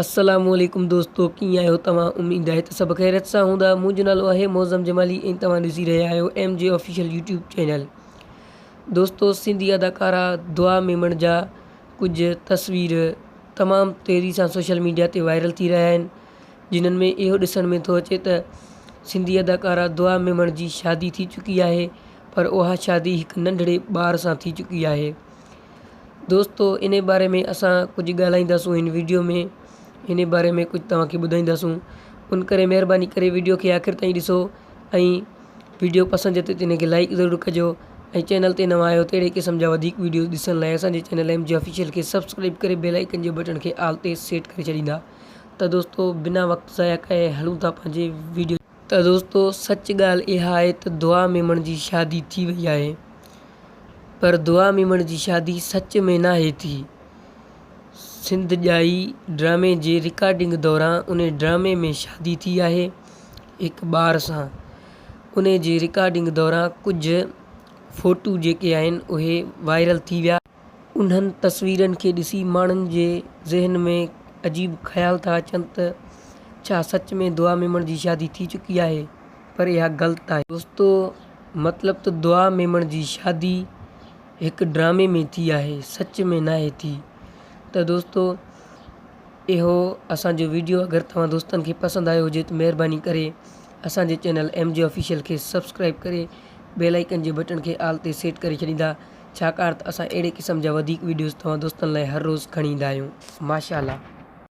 السلام عليڪم دوستو ڪيئن آهيو توهان اميد آهي ته سڀ خيريت سان هوندا منهنجو نالو آهي معظم جمالي ۽ توهان ڏسي رهيا آهيو M G official YouTube channel دوستو سنڌي اداڪارا دعا ميمڻ جا ڪجهه تصوير تمام تيزي سان سوشل ميڊيا تي وائرل ٿي رهيا آهن جنن ۾ اهو ڏسڻ ۾ ٿو اچي ته سنڌي اداڪارا دعا ميمڻ جي شادي ٿي چڪي آهي پر اها شادي هڪ ننڍڙي ٻار سان ٿي چڪي آهي دوستو انهي باري ۾ اسان ڪجهه ڳالهائينداسون هن ويڊيو ۾ انهي باري ۾ ڪجهه توهان کي ٻڌائينداسون ان ڪري مهرباني ڪري ويڊيو کي آخر تائين ڏسو ۽ ويڊيو پسند اچي ته ان کي لائڪ ضرور ڪجو ۽ چينل تي نوان آهيو ته اهڙي قسم جا وڌيڪ ويڊيوز ڏسڻ لاء اسان جي چينل ايم جي آفيشل کي سبسڪرائيب ڪري بيل آئيڪن جي بٽڻ کي آل تي سيٽ ڪري ڇڏيندا ته دوستو بنا وقت ضايع ڪئي هلون ٿا پنهنجي ويڊيو ته دوستو سچ ڳالهه اها آهي ته دعا ميمڻ جي شادي ٿي وئي آهي پر دعا ميمڻ جي شادي سچ ۾ ناهي ٿي. سنڌ ڄائي ڊرامي جي رڪارڊنگ دوران ان ڊرامي ۾ شادي ٿي آهي هڪ ٻار سان ان جي رڪارڊنگ دوران ڪجهه فوٽو جيڪي آهن اهي وائرل ٿي ويا. انهن تصويرن کي ڏسي ماڻهن جي ذهن ۾ عجيب خيال ٿا اچن ته ڇا سچ ۾ دعا ميمڻ جي شادي ٿي چڪي آهي پر اها غلط آهي. دوستو مطلب ته دعا ميمڻ جي شادي هڪ ڊرامي ۾ ٿي آهي سچ ۾ ناهي ٿي ته دوستو اهو اسان جو ويڊيو اگر توهان دوستن کي پسند آيو هجي ته مهرباني ڪري اسان جي چينل ايم جي آفيشل کي سبسڪرائيب ڪري بيل آئيڪن جي بٽڻ کي آل تي سيٽ ڪري ڇڏيندا ڇاڪاڻ ته اسان اهڙي قسم جا وڌيڪ وڊيوز توهان دوستن لاء هر روز کڻي ايندا آهيون ماشاء الله.